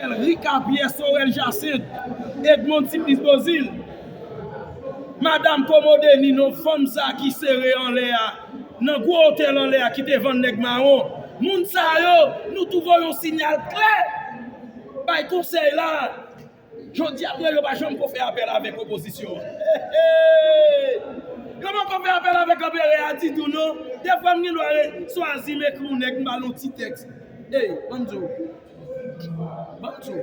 L. Ricard Pierre Sorel Jacinthe Edmond Supplice Beauzile Madam Commode Ninon fanm sa ki sere anlè a nan gwo otèl anlè a ki te vann nèg mawon moun sa yo nou tou voye yon sinyal klè bay konsèy la jodi a yo pa janm ko fè apèl avèk opozisyon an eehh yo poko fè apèl avèk anperè a ditou non dèfwa m gen dwa swazi m ekri yon nèg m ba l yon ti tèks eehh an m di w. Bantu,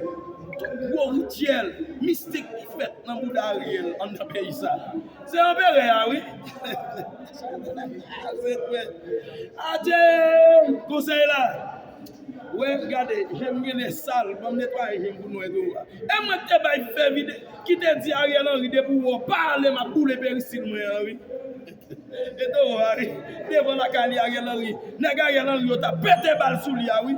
tout gwo rityèl mistik ki fèt nan bouda Ariel anndan peyi sa a, se anperè a wi. Adjee! Konsèy la! Wè, gade, je m gen lè sal, ban m netwaye je m pou nwè do a. E mwen k te bay fè vide, ki te di Ariel Henry depi w wè w pa ale m ap boule perisil mwen an wi. E toro a ri, devan lakay li Ariel Henry, nèg Ariel Henry yo t ap pete bal sou li a wi.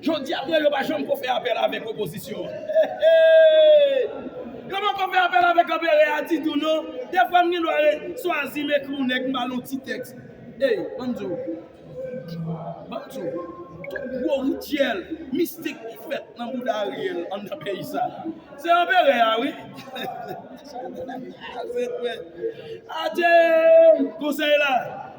Jodi a mwen yo pa janm ko fè apèl avèk opozisyon an eehh yo poko fè apèl avèk anperè a ditou non defwa m gen dwa swazi m ekri yon nèg m ba l yon ti tèks ey banm di w banm di w tout gwo rityèl mistik ki fèt nan bouda Ariel anndan peyi sa se anperè a wi eehh adjee konsèy la.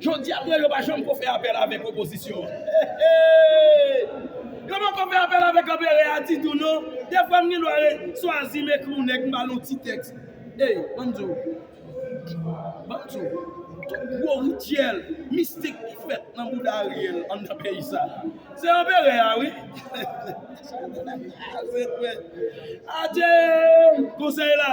Jodi a Preyo pa janm ko fè apèl avèk opozisyon an. Eehh! Yo poko fè apèl avèk anperè a ditou non. Defwa m gen dwa re swazi m ekri yon nèg m ba l yon ti tèks. Ey, ban m di w. Ban m di w. Tout gwo rityèl mistik ki fèt nan bouda Ariel anndan peyi sa a. Se anperè a wi. Eehh! Sa yo gen lakay. Adjee! Konsèy la.